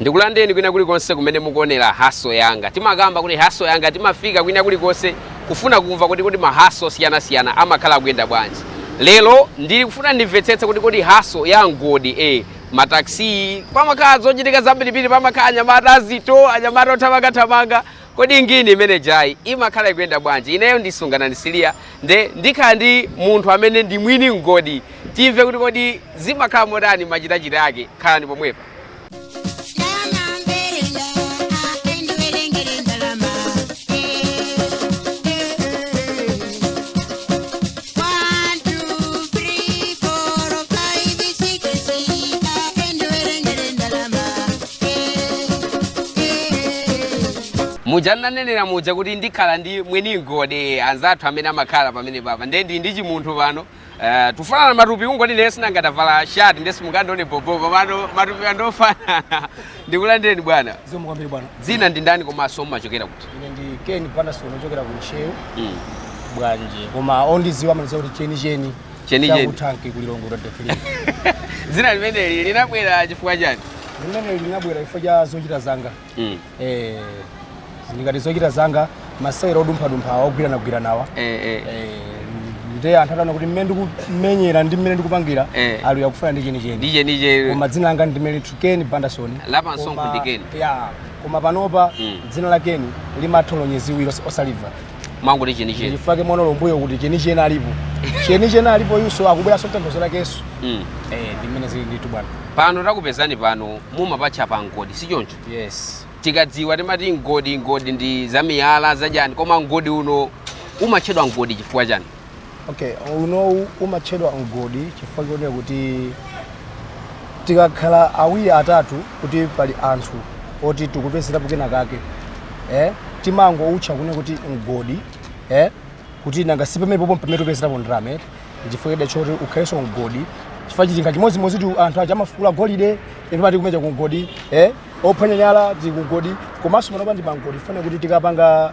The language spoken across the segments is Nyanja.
ndikulandeni kwina kulikonse kumene mukuonera haso yanga timakamba kuti haso yanga timafika kwina kulikonse kufuna kumva kuti kodi mahaso osiyanasiyana amakhala akuyenda bwanji lero ndikufuna ndimvetsetse kuti kodi haso ya mgodi eh, mataxi pamakhala zochitika zambirimbiri pamakhala anyamata azito anyamata othamangathamanga kodi ngini imene jayi imakhala ikuyenda bwanji ineyo ndi Sungananji Siliya nde ndikhala ndi munthu amene ndi mwini mgodi timve kuti kodi zimakhala motani machitachita ake khalani pomwepo muja nanenera muja kuti ndikhala ndi mwini mgodi anzathu amene amakhala pamene papa ndiye ndili ndi chimunthu pano Eh, tufanana matupi kungoti ine sinangotavala shati ndesi mungandione bobo komano matupi andofanana ndikulandeni bwana zikomo kwambiri bwana dzina ndi ndani komanso mumachokera kuti ine ndi Ken Bandasoni ochokera ku Ntcheu Mm. Bwanje koma ondidziwa amandidziwa kuti chenicheni Chenicheni. cha ku Tanki ku Lilongwe la defili dzina limeneli linabwera chifukwa chani limeneli linabwera chifukwa cha zochita zanga mm. eh, zili ngati zochita zanga masewera odumphadumpha awa ogwiranagwiranawa eh, eh. eh, nde anthu ataona kuti mmene ndikumenyera ndi mmene ndikupangira eh. ali iya akufuna ndi chenicheni ndi chenicheni koma dzina langa ndi limenetu Keni Bandasoni la pa msonkho ndi Keni ya koma panopa mm. dzina la Keni limatolonyeziwiro osaliva amangoti ndi chenicheni chifukwa mwana wam'mbuyo kuti chenicheni alipo chenicheni alipo yuso akubweranso tanthauzo lakenso mm. eh, ndi mmene zili nditu bwana pano takupezani pano mumapatcha pa mgodi si choncho yes timadziwa timati mgodi, mgodi ndi zamiyala zachani koma mgodi uno umatchedwa mgodi chifukwa chani Okay, unowu umatchedwa mgodi chifukwa chonena kuti tikakhala awiri atatu kuti pali anthu oti tikupezerapo kena kake eh? timangoutcha kunena kuti mgodi eh? kuti nanga si pamene popo pamene tikupezerapo ndalama eti chifukwa chida choti ukhalenso mgodi chifukwa chilinga chimodzimodzitu anthu aja amafukula golide aja amati kumatcha ku mgodi eh? ophwanya miyala tili ku mgodi komanso panopa ndi pamgodi chifukwa chonena kuti tikapanga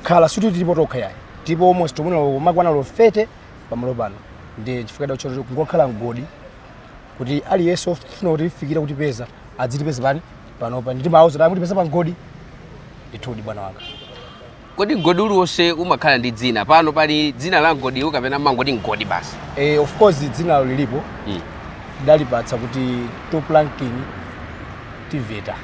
khala sikuti tilipo tokha yayi tilipo almost mwina tikumakwana 30 pamalo pano ndi chifukwa choti choti kungokhala mgodi kuti aliyense ofuna kutifikira kutipeza adzitipeza pati panopa nde timawauza kuti mutipeza pa mgodi ndithudi bwana wanga kodi mgodi uliwonse umakhala ndi dzina pano pali dzina la mgodiwu kapena mumangoti mgodi basi eh, of course dzinalo lilipo Mm. tidalipatsa kuti top ranking tiveta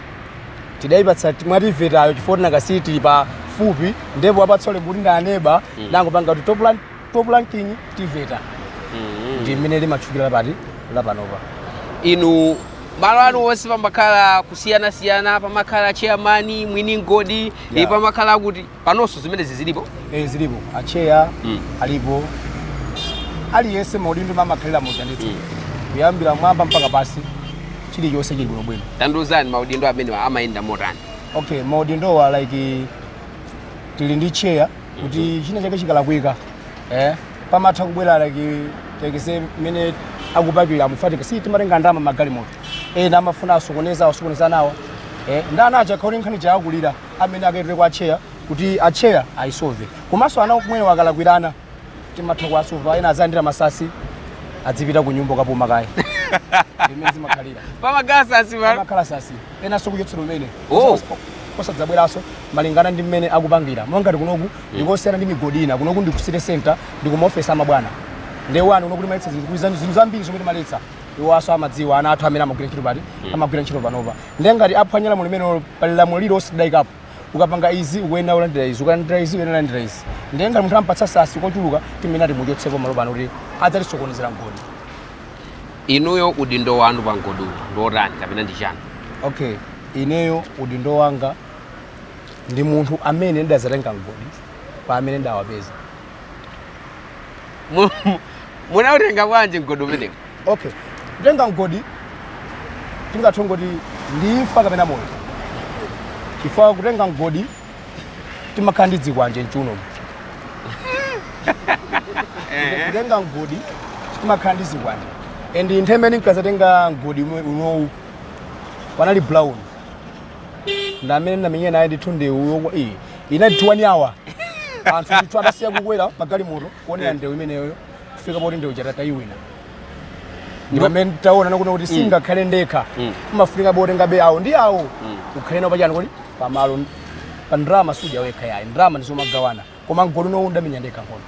tidaipatsa ti- mwativetayo chifukwa tinakasiyi tili pafupi ndipo wapatsa ulemu kuti ndi aneba tangopanga kuti top lan- top ranking tiveta ndi mmene limatchukira lapati lapanopa inu malo anu onse pamakhala kusiyanasiyana pamakhala chairman mwini mgodi Yeah. yeah. pamakhala kuti panonso zimenezi zilipo eh zilipo acheya mm. alipo aliyense maudindo mmene amakhalira muja ndithu mm. kuyambira mwamba mpaka pansi chilichonse chili bwino bwino tandiuzani maudindo amene amayenda motani okay maudindowa like tili ndi cheya kuti mm-hmm. china chake chikalakwika eh pamatha kubwera like takesi mmene akupakira amufatika sitimatenga ndama magalimoto ena amafuna asokoneza nawo eh nde ana achina akauze kuti nkhani yakulira amene akaitule kwa atcheya kuti atcheya ayisove komanso ana akumene akalakwirana timatha kuwasova ena azalandira masasi adzipita ku nyumba kukapuma kaye mmene zimakhalira pamakhalanso masasi ena okuchotseratu mene Oh. osadzabweranso malingana ndi mmene akupangira monga ngati kunoku ndikosiyana ndi migodi ina kunoku ndi ku city center ndi ku maofesi amabwana ndewu ayi kunoku timaletsa zinthu zinthu zambiri zomwe timaletsa iwo aso amadziwa ana athu amene amagwira ntchito pati amagwira ntchito panopa ndiye ngati aphwanya lamulo limenelo pali lamulo lililonse tidayikapo ukapanga izi ukuyenera kulandira izi ukalandira izi ukuyenera kulandira izi ndiye ngati munthu ampatsa sasi kochuluka timene timuchotsepo malo pano kuti azitisokonezera mgodi inuyo udindo wanu pa mgodiwu ndi otani kapena ndi chani okay ineyo udindo wanga ndi munthu amene ndidazatenga mgodi kwa amene ndawapeza Mu- mu- munautenga bwanji mgodi umenewu okay kutenga mgodi tingathe kungoti ndi imfa kapena moyo chifukwa kutenga mgodi timakhala ndi zikwanje mchiuno kutenga mgodi timakhala ndi zikwanje and nthawi imene ndinkazatenga mgodi ume- unowu panali brown nde amene ndinamenyana naye ndithu ndewu yokhayi inali 1 hour anthu ndithu adasiya kukwera magalimoto kuonera ndewu imeneyo kufika poti ndewu yatha tayiwina ndipo mmene nditaona kuti kuti sindingakhale ndekha umafunikabe utengebe awo ndi awo ukhale nawo pachani kuti pamalo pa ndrama sudya wekha yayi ndrama ndizomagawana koma mgodi unowu ndamenya ndekha nkhondo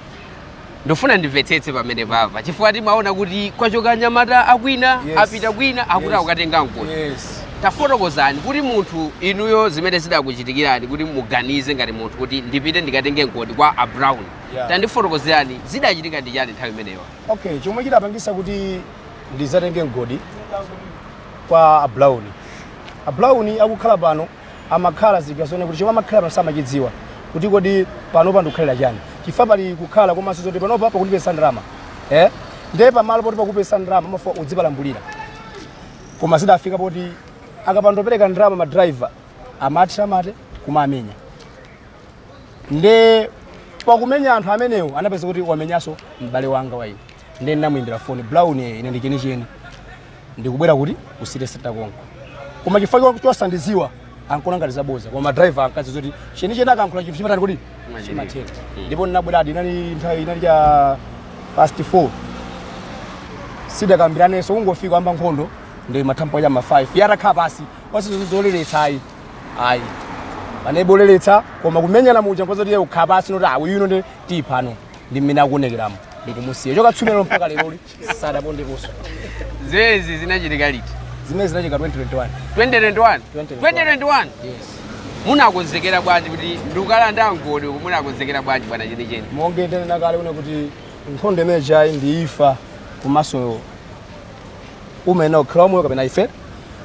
ndifuna ndimvetsetse pamene papa chifukwa timaona kuti kwachoka anyamata akwina Yes. apita kwina akuti Yes. akukatenga mgodi yes tafotokozani kuti munthu inuyo zimene zidakuchitikirani kuti muganize ngati munthu kuti ndipite ndikatenge mgodi kwa a brown Yeah. tandifotokozerani zidachitika ndi chani nthawi imeneyo okay chomwe chidapangisa kuti ndizatenge mgodi kwa a brown a brown akukhala pano amakhala zija zoona kuti chomwe amakhala pano samachidziwa, kuti kodi panopa ndikukhalira chani chifukwa pali kukhala komanso zoti panopa pakutipezetsa ndalama eh? ndiye pamalo poti pakupezeka ndalama amafuna udzipalambulira koma zidafika poti akapandopereka ndalama madriver amati kumamenya nde pakumenya anthu amenewo anapeza kuti wamenyanso m'bale wanga wanyi nde ndinamuyimbira foni brown ine ndi chenicheni ndikubwera kuti ku city center konko koma chifukwa chosandiziwa ankona ngati zabodza koma madriver ankadziwa zoti chenicheni akankhula chinthu chimatani kuti chimatheka mm. ndipo ndinabweradi inali nthawi inali cha past 4 sitidakambiranenso kungofika yayamba nkhondo ndi nthawi ya ma 5 atakhala pansi wasizo zoleretsa ayi ayi panalibe oleretsa koma kumenyana muja nkoza kuti ukhala pansi noti awi yuno ndi tiyiphano ndi mmene akuonekeramo ndikumusiya chokatsimphina mpaka lero sadapondeponso zimenezi zinachitika liti zimenezi zinachitika 2021 2021 2021 yes munakonzekera bwanji kuti ndikukalanda mgodi uku munakonzekera bwanji bwana chenicheni monga ndanena kale ine kuti nkhondo imeneyi ndi imfa komanso mwina ukhala wamoyo kapena ufe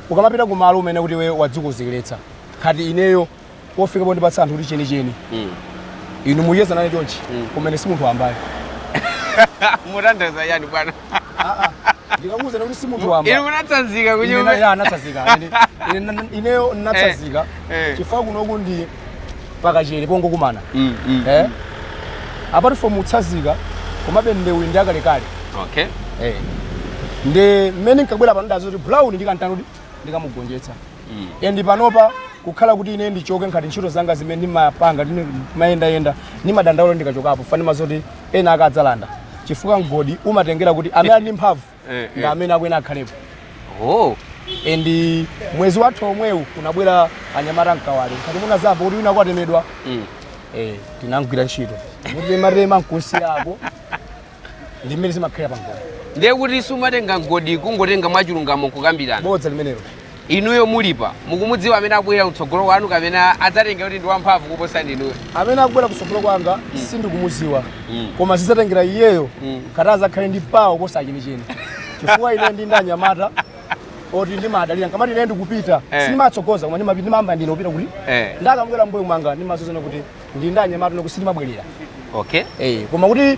ukamapita kumalo kumene kuti iwe wadzikonzekeretsa ngati ineyo pofika pondipatsa anthu kuti chenicheni mm. inu muyenda nane chonchi mm. kumene si munthu wambayo mutanthauza chani bwana ah, ah. ndikakuuza kuti si munthu wamba inu munatsanzika kunyumba ya ndinatsanzika ineyo ndinatsanzika eh, eh. chifukwa kunoku ndi pakachele pongokumana mm, mm, eh? mm. apart from kutsanzika komabe ndewu ndi yakalekale okay. eh. ndi mmene nkabwerera pano ndadziwa zoti brown ndikamtanidi ndikamugonjetsa and panopa kukhala kuti ine ndichoke ngati ntchito zanga zimene ndimapanga ndine- ndimayendayenda ndimadandaula ndikachokapo ndimadziwa zoti ena akadzalanda chifukwa mgodi umatengera kuti amene ali ndi mphamvu Eh, eh. ndi amene akuyenera akhalepo oh and mwezi wathu omwewu kunabwera anyamata mkawale ngati munadzamva kuti wina kwatemedwa mm. eh, tinamgwira ntchito kumutematema m'khosi yako ndi mmene zimakhalira pa mgodi ndiye kuti sumatenga mgodi kungotenga mwachilungamo kukambirana bodza limenelo inuyo mulipano mukumudziwa amene akubwera kutsogolo kwanu kapena adzatenga kuti ndi wamphamvu kuposa inuyo amene akubwera kutsogolo kwanga sindikumudziwa Mm. koma zidzatengera iyeyo Mm. ngati adzakhale ndi pawo kuposa chenicheni chifukwa ine ndili ndi anyamata oti ndimadalira nkamati ine ndikupita Eh. sindimatsogoza koma ndimapita ndimayamba ndine kupita kuti Eh. akamabwera mbuyo mwanga ndimadzaona kuti ndi ndi anyamata okuti sitimabwerera okay eh koma kuti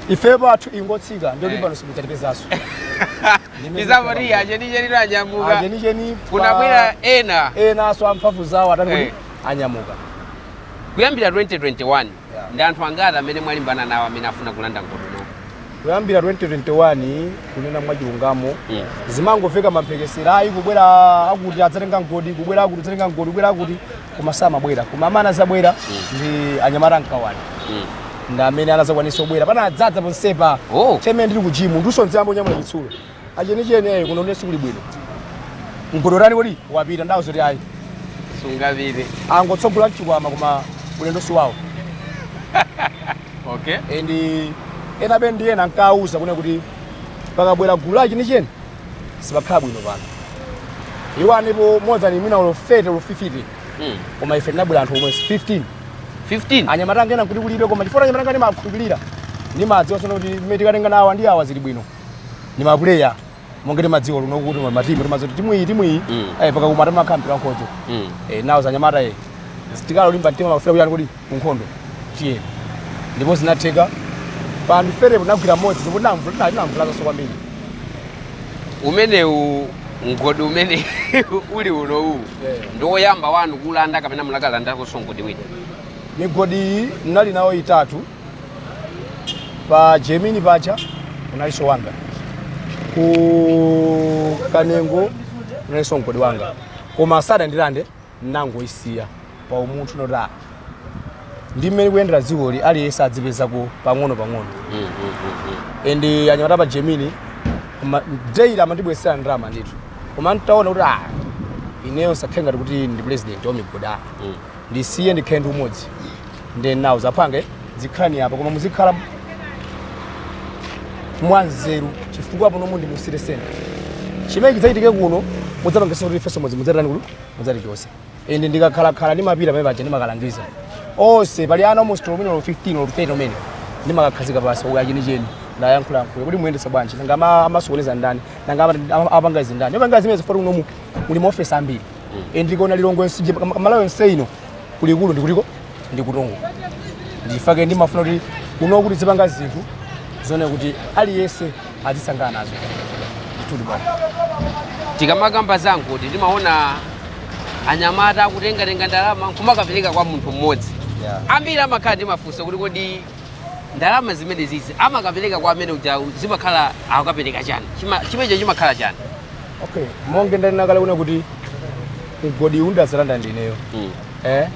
ife pathu ingotsika ndio Eh. kuti pano simudzatipezanso tizamati achenicheni anyamuka achenicheni kunabwera ena enanso amphamvu zawo atani kuti Eh. anyamuka kuyambira 2021 Yeah. ndi anthu angati amene mwalimbana nawo amene afuna kulanda mgodi uno kuyambira 2021 kunena mwachilungamo Mm. zimangomveka mamphekesera ayi kubwera akuti adzatenga mgodi kubwera akuti adzatenga mgodi kubwera akuti koma samabwera koma amene anazabwera ndi anyamata a m'Kawale ndi amene anazakwanisa kubwera pano anadzadza ponsepa Oh. chemene ndili ku jimu ndiso nziyamba kunyamula chitsulo achenicheni eyi kuno ndiye sikuli bwino mgodi watani mgodi wapita ndawauza kuti ayi sungapite angotsogola nchikwama koma ulendo si wawo okay and enabe ndi ena ankawuza kunena kuti pakabwera gulu achenicheni sipakhala bwino pano iwo analipo more than mwina olo 30 olo 50 Mm. koma ife tinabwera anthu omwe 15 15 anyamata anga ena kuti kulibe koma chifukwa anyamata anga ndimakhulupirira ndimadziwa zonena kuti mmene tikatenga nawo ndi awa zili bwino ndi mapuleya monga timadziwa luno kuti matimu timadziwa kuti timu iyi timu iyi Mm. eh, pakakumana makhampira nkhondo Mm. eh, ndauza anyamata eh. tikhale olimba mtima mafuna kutani kuti ku nkhondo. Tiyeni. Ndipo zinatheka, pa anthu 30 po tinagwira mmodzi ndipo tinamvu- tina- tinamvulazanso kwambiri. umenewu mgodi umene uli unowu Yeah. ndi woyamba wanu kulanda kapena munakalandakonso mgodi wina Migodi iyi ndinali nawo itatu, pa Gemini paja kunalinso wanga, ku Kanengo kunalinso mgodi wanga, koma sadandilande nnangoisiya pa umunthu not a ndi mmene likuyendera dzikoli aliyense adzipezako pang'ono pang'ono and anyamata pa gemini ma- daily amandibweretsera ndalama ndithu koma ntaona kuti ah ineyo zisakhale ngati kuti ndi president wa migodi ah ndisiye ndikhale ndi umodzi ndinawauza apange zikhalani apa koma muzikhala mwanzeru chifukwa pano muno ndi mu City Centre chimene chidzachitike kuno mudzapangitsa kuti ifeso mudzi mudzatani kuno mudzatichotse ende ndikakhalakhala ndimapita pamene paja ndimakalangiza onse pali ana almost olo mwina olo 15 olo 30 amene ndimakakhazika pansi kuti achenicheni ndayankhulayankhula kuti muyendetsa bwanji nanga ama- amasokoneza ndani nanga ama- ama- apanga izi ndani apanga zimenezi chifukwa choti munomu muli maofesi ambiri and ndikaona lilongwe yonseyi malawi yonse ino kulikulu ndikutiko ndikutongo nchifukwa chake ndimafuna kuti kuno kuti ndizipanga zinthu zonena kuti aliyense azisangalala nazo ndithudi bwana tikamakamba za mgodi timaona anyamata akutengatenga ndalama nkumakapereka kwa munthu mmodzi ambiri amakhala ndi mafunso kuti kodi ndalama zimene zizi amakapereka kwa amene uja zimakhala akukapereka chani Chima- chimenecho chimakhala chani okay monge ndanena kale kuna kuti mgodi uwu ndazalanda ndineyo eh?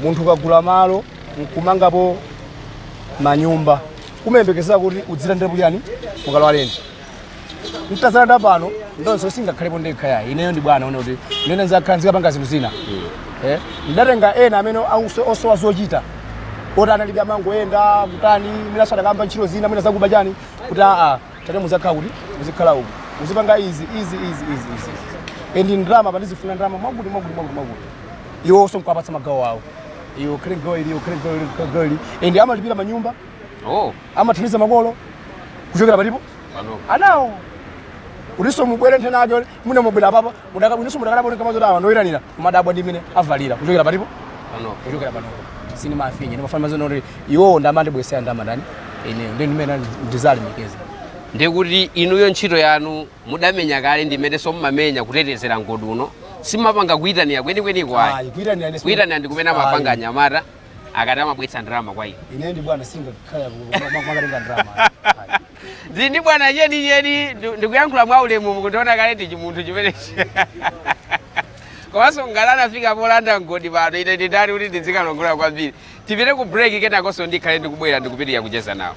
munthu ukagula malo nkumangapo manyumba umayembekezera kuti udzilandirapo chani mukalowa lendi mtazalanda pano ndonso singakhalepo ndekha yayi ineyo ndi bwana one kuti ndine zakhala nzikapanga zinthu zina Eh, ndatenga ena amene auso- osowa zochita oti analibe amangoyenda kutani mwina adakayamba ntchito zina mwina zakuba chani kuti aa tate muzakhala kuti muzikhala uku muzipanga izi izi izi izi izi endi ndalama pandizifuna ndalama mwakuti mwakuti mwakuti mwakuti iwo onso nkuwapatsa magawo awo iyo khale gawo ili iyo khale gawo ili khale gawo ili endi amalipira manyumba oh. amathandiza makolo kuchokera palipo anawo kutinso mubwere nthena ake mune mubwera apapa mudainso mudakalaponeka mazoti awa ndoyitanira kumadabwa ndi mene avalira kuchokera palipo kuchokera panopo sini mafinye ndimafana mazona kuti iwowo ndamandibwesera ndamadani ine ndi ndimene ndizalemekeza ndikuti inuyo ntchito yanu mudamenya kale ndimene somumamenya kutetezera mgodi uno simapanga kuyitanira kwenikweniko ayi kuyitanira ndi kumene amapanga anyamata akati amabwetsa ndalama kwa ine ine ndi bwana singakhala makatenga ndalama ndili ndi bwana cheni cheni ndu- ndikuyankhula mwa ulemu mukundiona kale ndi chimunthu chimenechi komanso ngati anafika polanda mgodi pano ine ndi ndani kuti ndidzikalongolola kwambiri tipite ku break kenakonso ndikhale ndikubwera ndikupitirira kucheza nawo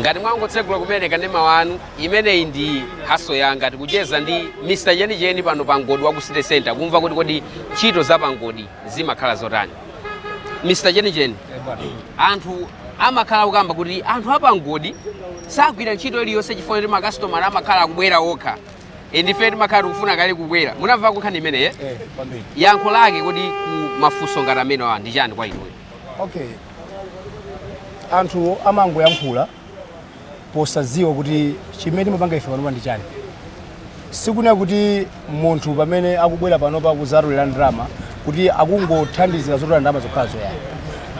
ngati mwangotsegula kumene kanema wanu imeneyi ndi hustle yanga tikucheza ndi mr chenicheni pano pa mgodi wa ku city center kumva kuti kodi ntchito za pa mgodi zimakhala zotani mr chenicheni anthu amakhala kukamba kuti anthu a pa mgodi sagwira ntchito iliyonse chifukwa kuti makasitomala amakhala akubwera okha E, ndife timakhala tikufuna kale kukwera munamva nkhani imeneyi eh? yankho lake kodi ku mafunso ngati amenewa ndi chani kwa inuyo okay anthu amangoyankhula posadziwa kuti chimene timapanga ife panopa ndi chani sikunena kuti munthu pamene akubwera panopa kuzatolera ndalama kuti akungothandizira zotolera ndalama zokhazo yayi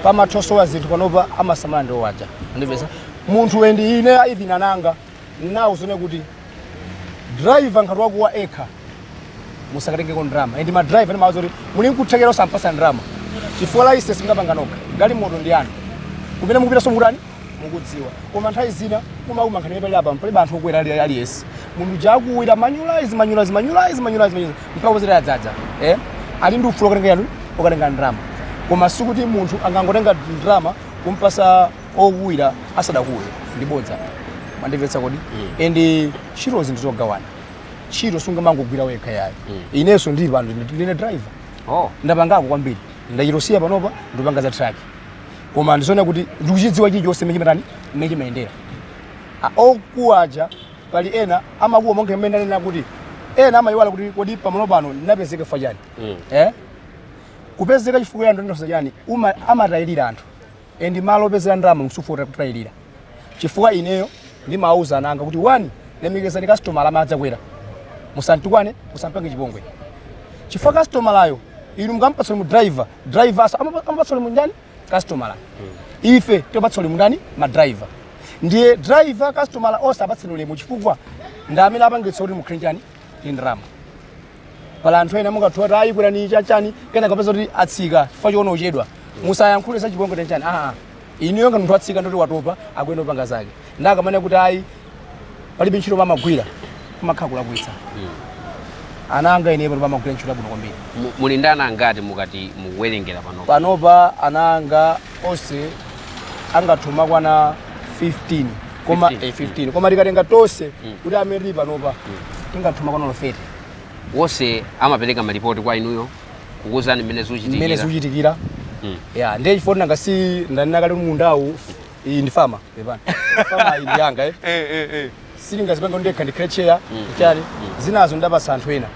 pamatha kusowa zinthu panopa amasamala ndi awo aja ndipeza munthu wendi ine even ananga Nnawauza ine kuti driver ngati wakuwa yekha musakatengeko ndrama and ma driver ndimawauza kuti muli nkuthekera osampasa ndrama chifukwa license mungapanga nokha galimoto ndi yanu kumene mukupitanso mukutani mukudziwa koma nthawi zina kumauma nkhani yoti pali apa mpalibe anthu okwera ali- aliyense munthu uja akuwira manulize manulize manulize manulize manulize mpaka kuzera yadzadza eh ali ndi ufulu okatenga yanu okatenga ndrama koma sikuti munthu angotenga ndrama kumpasa okuwira asadakuwe ndi bodza mwandimvetsa kodi and ntchito zinthu zogawana ntchito sungamangogwira wekha yayi inenso ndili pano ndi- ndine driver oh ndapangako kwambiri ndachitosiya panopa ndipanga za truck koma ndizoona kuti ndikuchidziwa chilichonse mmene chimatani mmene chimayendera A- okuwaja pali ena amakuwa monga mmene ndanena kuti ena amayiwala kuti kodi pamalo pano ndinapezeka fa chani eh? kupezeka chifukwa ya ndondosa chani uma- amatayirira anthu and malo opezera ndalama musufota kutayirira chifukwa ineyo ndimawauza ana anga kuti one lemekezani kasitomala amene adzakwera musamtukwane musampange chipongwe chifukwa kasitomalayo inu mukampatsa ulemu driver driver asa- amapa- amapatsa ulemu ndani kasitomala ife tipatsa ulemu ndani ma driver ndiye driver kasitomala onse apatsa ulemu chifukwa ndi amene apangitsa kuti mukhale ndi chani ndi ndalama pali anthu ena mungathe kukuwa kuti ayi kwerani chanichani kenaka mupeza kuti atsika chifukwa choona kuchedwa musayankhule za chipongwe tenchani aa inuyo ngati munthu atsika ndoti watopa akuyenda opanga zake ndakamane kuti ayi palibe ntchito pamagwira kumakhala kulakwitsa ana anga ine pano amagwira ntchito yabwino kwambiri Mu- muli ndi ana angati mukati mukuwerengera pano panopa ana anga onse angathe kumakwana 15 koma 15, eh, 15 koma tikatenga tonse kuti amene tili panopa tingathe kumakwana 30 onse amapereka malipoti kwa inuyo kukuwuzani mmene mmene zikuchitikira zikuchitikira Mm. ya ndiye chifukwa nanga si ndanena kale kuti mundawu iyi ndi fama pepani fama iyi ndi yanga eh. Eh, eh, eh. sindingazipange ndekha ndikhale cheya chani zinazo ndapasa anthu ena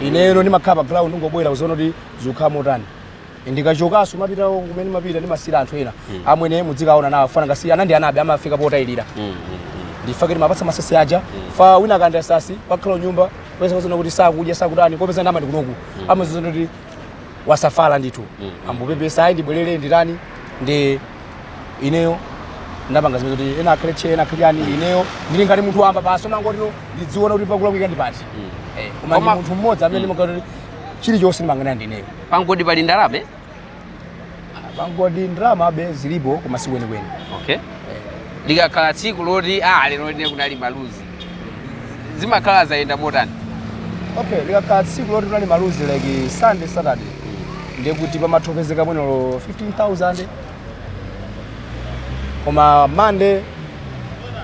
ineyo ndimakhala pa ground kungobwera kuziona kuti zikukhala motani ndikachokaso mapita kumene mapita ndimasiyira anthu ena mm. amwene mudzikaona anawo fa nanga si ana ndi anabe amafika potayilira mm, mm, mm. ndifake ndimapatsa masasi aja mm. fa wina akanda sasi pakhala nyumba pesa kozona kuti sakudya sakutani kopeza ndalama ndikunoku mm. amazozona kuti wasafala ndithu mm. mm. amangopepesa ayi ndibwerere nditani ndi ineyo ndapanga zimene kuti ena akhale cheya ena akhale yani mm. ineyo ndili ngati munthu wamba basi nangotino ndidziona kuti pakulakwika ndi pati mm. eh, koma ndi munthu mmodzi amene mm. ndimakati chilichonse ndimayang'ana ndineyo pangodi pali ndalama pangodi ndalamabe zilipo koma si kwenikweni okay likakhala tsiku loti ah lero ine kunali maluzi zimakhala zayenda motani okay likakhala tsiku loti kunali maluzi like sunday saturday ndiye kuti pamatha kupezeka mwina olo 15000 koma monday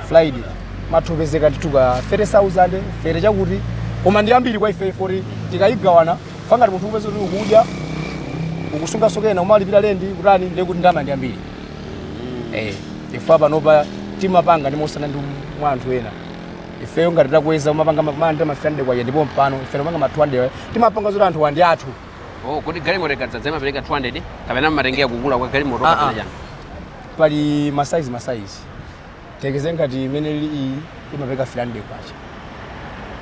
friday imatha kupezeka ndithu ka 30000 fere chakuti koma ndi yambiri kwa ife foti tikayigawana Fa ngati munthu ukupeza kuti ukudya ukusungaso kena umalipira lendi kutani ndiye kuti ndalama ndi yambiri eh chifukwa panopa timapanga ndi mosiyana ndi mwa anthu ena ifeyo ngati takweza umapanga mamanda ma 500 kwacha ndipo pano ife timapanga ma 200 timapanga zoti anthuwa ndi athu Oh, kodi galimoto ikadzadza imapereka 200 kapena mmatengera kukula kwa galimoto Ah, ah. kapena chani? pali masaizi masaizi tiyerekeze ngati imene ili iyi imapereka 300 kwacha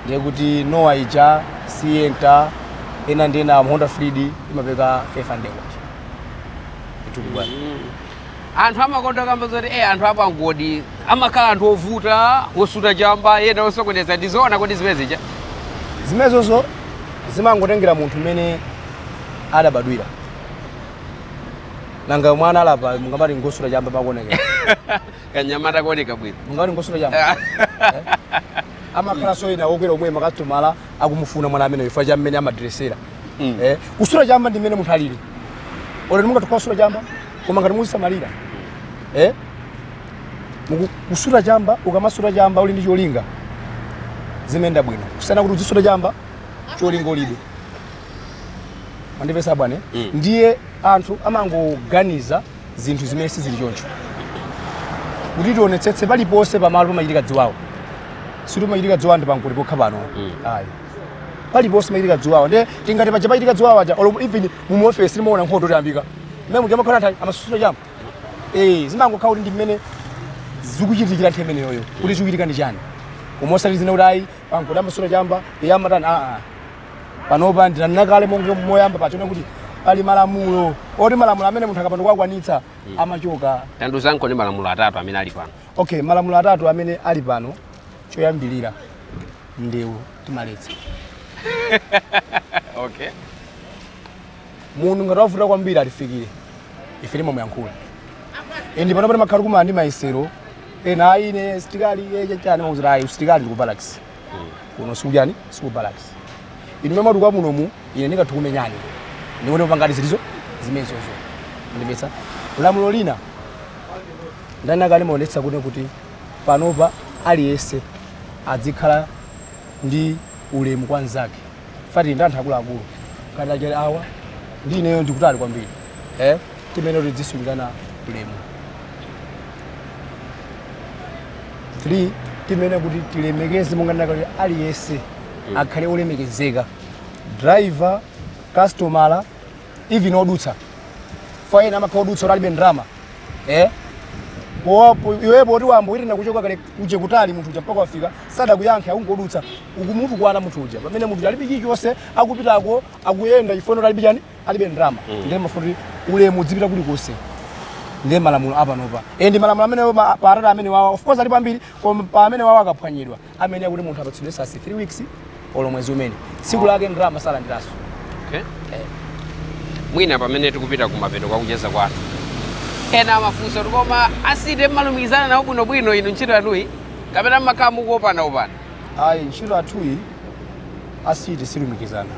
ndiye kuti Noah ija Sienta ena ndi ena Honda Freed imapereka 500 kwacha itukubwana anthu amakonda kukamba zoti eh, anthu apangodi amakhala anthu ovuta osuta chamba ena osokoneza ndizoona kodi zimene zija zimenezozo zimangotengera munthu mmene adabadwira nanga mwana ali apa mungamati ngosuta chamba pakuonekera kanyamata kuoneka bwino mungamati ngosuta chamba amakhala soyina wokwera omwe makasitomala akumufuna mwana amene chifukwa cha mmene amadresera Mm. Eh, kusuta chamba ndi mmene munthu alili olo ndi mungatokhala kusuta chamba koma ngati muzisamalira Eh, muku- kusuta chamba ukamasuta chamba uli ndi cholinga zimayenda bwino kusiyana kuti uzisuta chamba cholinga ulibe mwandipeza bwana mm. ndiye anthu amangoganiza zinthu zimene sizili choncho kuti tionetsetse paliponse pamalo pamachitika ziwawa sikuti pamachitika ziwawa ndi pankuli pokha pano mm. ayi paliponse pamachitika ziwawa nde tingati paja pachitika ziwawa aja olo even mumuofesi timaona nkhondo itayambika mmene muja mumakhala anthu amasuta chamba eh zimangokhala kuti ndi mmene zikuchitikira nthawi imeneyoyo kuti mm. chikuchitika ndi chani koma osati zina kuti ayi pankuli amasuta chamba iye amatani aa ah, ah. panopa ndinanena kale monga moyamba pachona kuti pali malamulo oti malamulo amene munthu akapanda kuwakwanitsa amachoka tandiuzenikoni malamulo atatu amene ali pano okay malamulo atatu amene ali pano choyambirira ndewu timaletsa okay munthu ngati wavuta kwambiri atifikire ife timamuyankhula endi panopa timakhala kumana ndi mayesero ena ayi ine msilikali eh chani timawauza ayi usilikali ndi ku barracks kuno sikuchani siku barracks inu mumatukwana munomu ine ndingathe kukumenyani ndikuti pangati zilizo zimenezozo ndimvetsa lamulo lina ndanena kale timaonetsa kuti kuti panopa aliyense adzikhala ndi ulemu kwa mnzake fa tili ndi anthu akuluakulu ngati achali awa ndi ineyo ndikutali kwambiri eh? timene kuti tidzisungirana ulemu 3 timene kuti tilemekeze monga ndinakamba kuti aliyense akhale olemekezeka driver customer even odutsa faina amakhala odutsa kuti alibe ndrama eh? iwepo poti wayamba kuyitana kuchoka kale uje kutali munthu uja mpaka wafika sadakuyankhe akungodutsa ukumutukwana munthu uja pamene munthu uja alibe chilichonse akupitako akuyenda chifukwa alibe chani alibe ndalama mm. ndiye timafuna kuti ulemu udzipita kulikonse ndiye malamulo apanopa e ndi malamulo amene pa pa atatu amenewawa of course alipo ambiri koma pa amenewawa akaphwanyidwa amene akuti munthu apatsidwe sasi 3 weeks olo mwezi umene tsiku lake ndalama salandiranso okay. mwina pamene tikupita kumapeto kwa kucheza kwathu ena amafunsa kuti koma a city mmalumikizana nawo bwinobwino inu ntchito yanuyi kapena mmakhala mukuopana opana ayi ntchito yathuyi a city sitilumikizana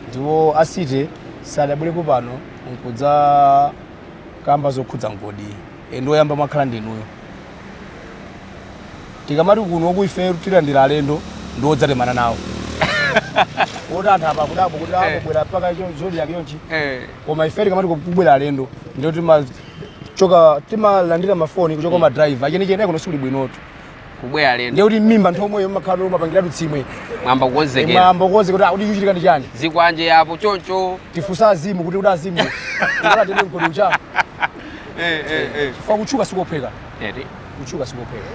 Ndipo a city sadabwerepo pano nkudzakamba zokhudza mgodiyi e, ndiye oyamba mwakhala ndinuyo. Tikamati kuno kwa ifeyo tilandira alendo ndi odzatemana nawo. Woti anthu apa akudabwa kuti Eh. akubwera mpaka cho- zodiac chonchi Eh, koma ife tikamati kubwera alendo ndiye timachoka timalandira mafoni kuchoka kwa madriver achenicheni kuno sikuli bwinotu kubwera alendo ndiye kuti mmimba nthomweyo mmakhala mwapangiratu tsemwe mwayamba kukonzekera mwayamba kukonzekera kuti akuti chikuchitika ndi chani zikwanje yapo choncho tifunsa azimu kuti kuti azimu ukalatenge m'godi uja eh, eh, eh. chifukwa kutchuka sikophweka kutchuka sikophweka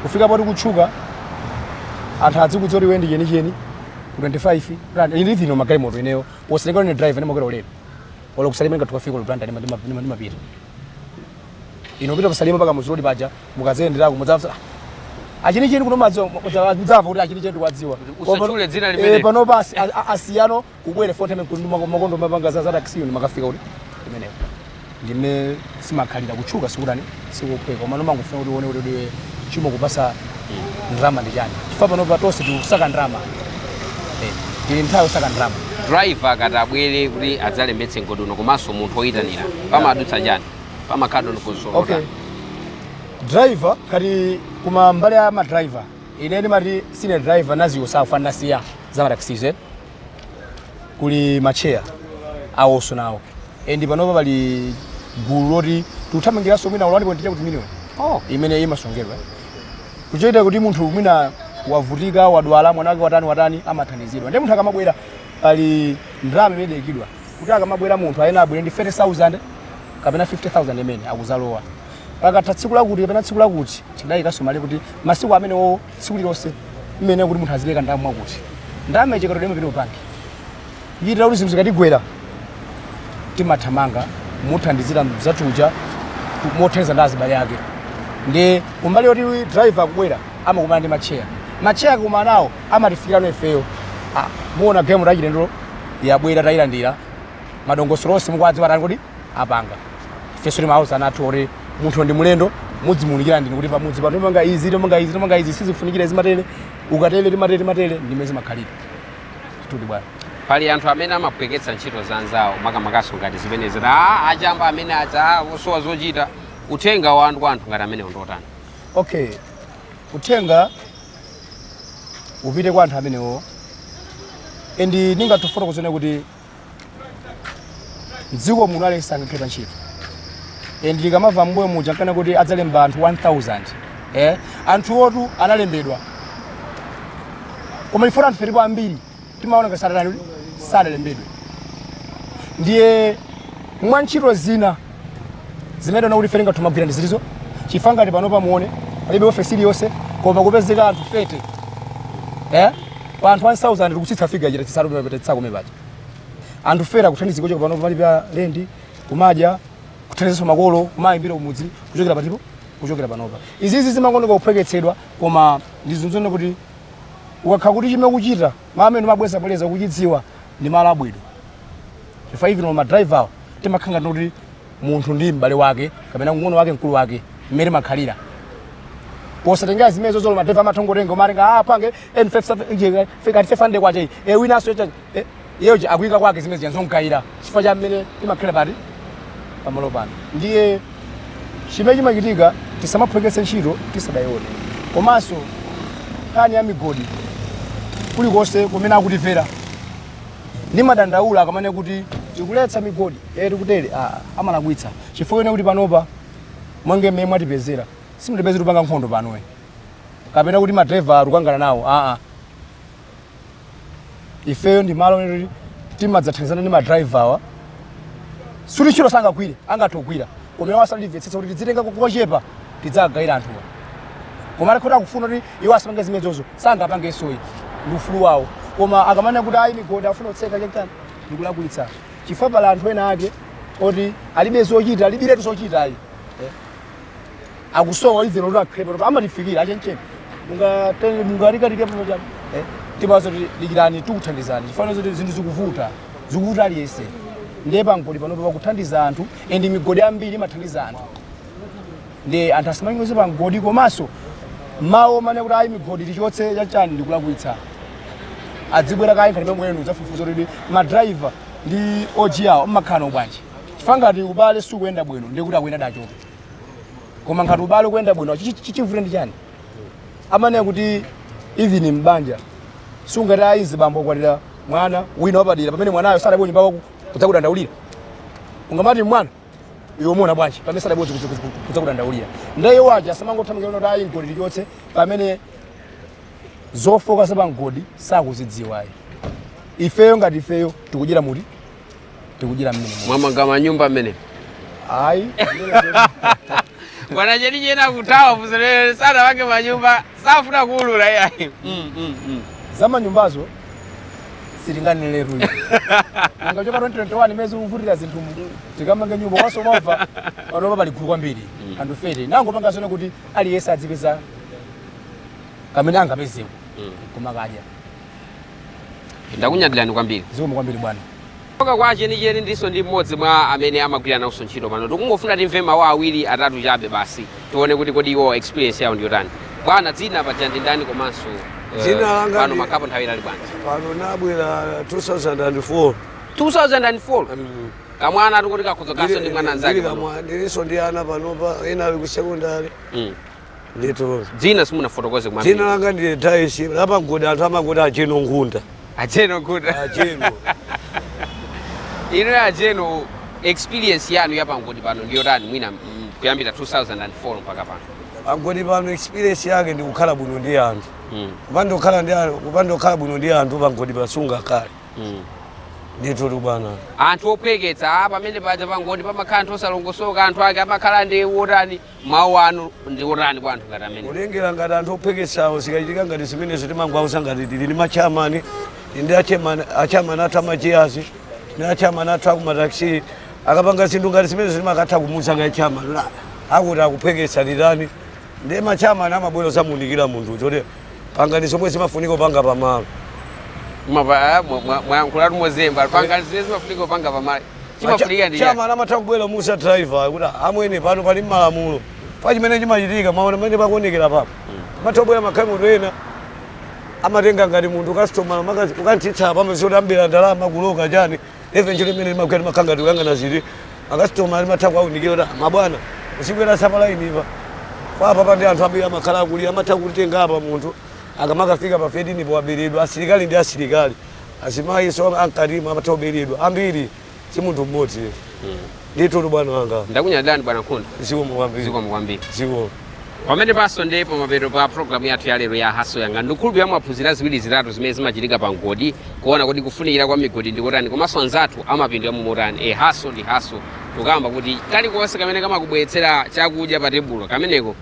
kufika poti kutchuka anthu adzikudziwa kuti iwe ndi chenicheni ku 25 brand ili vino magalimoto ineyo wosalekana ndi driver ndimakwera ulere olo ku Salima ngati tukafika olo brand ndimapita ino pita ku Salima mpaka mu road paja mukadzayenderako mudzamva achenicheni kuno madzi mudzamva kuti achenicheni ndikuwadziwa usachule dzina eh, limene pano pa asiyano kubwere fo time kuti mmakomo ndimapanga za za taxi ndimakafika kuti imeneyo ndime simakhalira kutchuka sikutani sikophweka koma umangofuna kuti uone kuti chimakupatsa ndalama ndi chani chifukwa pano pa tonse tikusaka ndalama eh, tili nthawi yosaka ndalama driver akati abwere kuti adzalembetse mgodi uno komanso munthu oyitanira pamadutsa chani pamakhala dongosolo okay lotani? driver kaya koma mbali ya ma driver ine ndimati sine driver ndadziwa zofanana si ya za mataxis eh? kuli macheya awonso nawo and panopa pali gulu loti tikuthamangiranso mwina olo ndinganene kuti million Oh, imene imasonkhedwa kuchitira kuti munthu mwina wavutika wadwala mwana wake watani watani amathandizidwa and munthu akamabwera pali ndalama imene idayikidwa kuti akamabwera munthu ayenera abwere ndi 30000 kapena 50000 imene akuzalowa pakatha tsiku lakuti kapena tsiku lakuti tidayikanso malire kuti masiku amenewo tsiku lilonse mmene kuti munthu azipereka ndalama mwakuti ndalama ija ikatero imapita ku banki kuchitira kuti zinthu zikatigwera timathamanga kumuthandizira mzathu uja mothandizana ndi azibale ake ndi kumbali yoti driver akubwera amakumana ndi matcheya matcheya akakumana nawo amatifikirano ifeyo ah, mwaona galimoto yachilendo yabwera tayilandira madongosolo onse mukuwadziwa tani kuti apanga ifenso timauza anzathu kuti munthu ndi mulendo mudzimuunikira ndinu kuti pamudzi pano timapanga izi timapanga izi timapanga izi sizifunikira zimatere ukatere timatere timatere ndimene zimakhalira ndithudi bwana pali anthu amene amaphweketsa ntchito za anzawo makamakanso ngati zimenezi kuti "Ah, achamba amene aja ah, osowa zochita uthenga wanu kwa anthu ngati amenewa ndi wotani okay uthenga upite kwa anthu amenewo and ndingathe kufotokoza kunena kuti mdziko muno aliyense sangakhale pa ntchito and ndinkamva mbuyo muja ankanena kuti adzalemba anthu 1000 eh anthuwotu analembedwa koma chifukwa choti anthufe tilipo ambiri timaona ngati sadali sadalembedwe ndiye mwa ntchito zina zimene timaona kuti ife tingathe kumagwira ndi zilizo chifukwa ngati pano pamuone palibe ofesi iliyonse koma kupezeka anthu 30 eh pa anthu 1000 tikutsitsa figa chita tisatu timapetetsa koma paja anthu fera kuthandiziko kuchokera pano kulipa lendi kumadya kuthandizanso makolo kumayimbira kumudzi kuchokera patipo kuchokera panopa izizi zimangooneka kuphweketsedwa koma ndikuuzeni kuti ukakhala kuti chimene ukuchita malo amene umabwerezabwereza ukuchidziwa ndi malo abwino chifukwa even ma driver awo timakhala ngati munthu ndi m'bale wake kapena mng'ono wake mkulu wake mmene timakhalira posatengera zimenezozo madriver amatha kungotenga umatenga ah pange n5 fika 500 kwacha iyi e winanso Iye uja akuyika kwake zimene zija nzomugayira chifukwa cha mmene timakhalira pati pamalo pano. Ndiye chimene chimachitika tisamaphweketse ntchito tisadayione. Komanso nkhani ya migodi kulikonse kumene akutimvera ndimadandaula akamanena kuti tikuletsa migodi eh tikutere ah, amalakwitsa chifukwa ine kuti panopa monga mmene mwatipezera simunatipeze tikupanga nkhondo pano ayi kapena kuti madrayiva tikukangana nawo aa ifeyo ndi malo lero timadzathandizana ndi madrayivawa sikuti ntchito sangagwire angathe kugwira koma iwo amatimvetsetsa kuti tidzitenga kochepa tidziwagayira anthuwa koma ali kuti akufuna kuti iwo asapange zimenezozo sangapangenso ayi ndi ufulu wawo koma akamanena kuti ayi migodi afuna kutseka chakutani ndikulakwitsa chifukwa pali anthu ena ake oti alibe zochita alibiretu zochita ayi akusowa dzero kuti akhale pano ndipo amatifikira a Chenicheni mungatenge mungalikatike pano apa eh tibazo likirani tikuthandizani chifukwa choti zinthu zikuvuta zikuvuta aliyense ndiye pamgodi pano pakuthandiza anthu and migodi ambiri imathandiza anthu ndi anthu asamanyoze pa mgodi komanso mawu omanena kuti ayi migodi tichotse chachani ndikulakwitsa azibwera kaye ngati mmenemu kudzafufuza kuti madriver ndi ma OG awo mumakhala nawo bwanji chifukwa ngati ubale sukuyenda bwino ndiye kuti akuyenera achoke koma ngati ubale ukuyenda bwino chi- chi- chivute ndi chani amanena kuti even mbanja sungati ayi azibambo akwatira mwana wina wapadera pamene mwanayo sadabwere nyumba mwako kudzakudandaulira ungamati mwana iwe umaona bwanji pamene sadabwere kudzakudandaulira ndiye awoja asamangothamangira kuti ayi mgodi tichotse pamene zifukwa za pamgodi sakuzidziwa ayi ifeyo ngati ifeyo tikudyera momwemu tikudyera mmene muli. mwamanga manyumba mmene ayi bwana chenicheni akuthawa afunse za ana awo manyumba sakufuna kuulula yayi Mm, mm, mm. za manyumbazo sitinganeneretu kuchoka 2021 mmene zikuvutira zinthu mu tikamanga nyumba mwa zovuta panopa pali gulu kwambiri la anthu ife timangopanga zoti kuti aliyense azipeza kamene angapezeko kumakadya ndakunyadirani kwambiri zikomo kwambiri bwana okay kwa Chenicheni ndilinso ndi mmodzi mwa amene amagwira nawonso ntchito pano tikungofuna timve mawu awiri atatu chabe basi tione kuti kodi iwo experience yawo ndiyotani bwana dzina paja ndi ndani komanso eh, Dzina langa pano ndi- mwakhalapo nthawi yaitali bwanji pano ndinabwera 2004 2004 Mm. kamwana tikuti kakhoza kukhalanso ndi mwana Ndili- anzake ndili pano. kamwa- ndilinso ndi ana panopa ena ali ku sekondari Mm. ndithu dzina simunafotokoze dzina kumambiri langa ndi Daisi lapamgodi anthu amangoti a Jeno Ngunda a Jeno Ngunda a Jeno ino a Jeno experience yanu yapamgodi pano ndiyotani mwina mm, kuyambira 2004 mpaka pano pamgodi pano experience yake ndi kukhala bwino ndi anthu Mm, kupanda kukhala ndi anthu kupanda kukhala bwino ndi anthu pamgodi pa sungakhale mm. ndithu bwana anthu ophweketsa ah, pamene paja pamgodi pamakhala anthu osalongosoka anthu ake amakhala ndi otani mawu anu ndi otani kwa anthu ngati amene kulengera ngati anthu ophweketsawo zikachitika ngati zimenezo timangwauza ngati tili ndi ma chairman ndi a chairman athu amachiyazi ndi a chairman athu akumataxi akapanga zinthu ngati zimenezo timakatha kumuuza kaye chairman kuti akuti akuphweketsa ndiyeno ma chairman amabwera kudzamuunikira munthu choti pangani zomwe zimafunika kupanga pamalo Mwa- mwa- mwa- mwayankhulatu mozemba pangani zimene zimafunika kupanga pamalo chimafunika ndi chiyani? chamani amatha kubwera musa driver kuti amwene pano pali malamulo pa chimene chimachitika maona pamene pakuonekera papo amatha kubwera magalimoto ena amatenga ngati munthu kastomala ukam'tsitsa pamwe zoti ambira ndalama kuloka chani eventually imene limakwera limakhala ngati kuyang'ana ziti makastomala timatha kuwaunikira kuti "Ah, mabwana musakweretse palainipa papa pandi anthu ambiri amakhala akulira amatha kutenga apa munthu akamakafika pa fifitini powaberedwa asilikali ndi asilikali azimayi so nthawi zina amatha kuberedwa ambiri si munthu mmodzi ndithu bwana wanga ndakunyadirani bwana nkhunda zikomo kwambiri zikomo kwambiri zikomo pamenepanso ndi pamapeto pa programu yathu ya lero ya Hustle Yanga ndikukhulupirira mwaphunzira ziwiri zitatu zimene zimachitika pa mgodi kuona kodi kufunikira kwa migodi ndikotani komanso anzathu amapindula mumotani e hustle ndi hustle tukamba kuti kalikonse kamene kamakubweretsera chakudya pa tebulo kameneko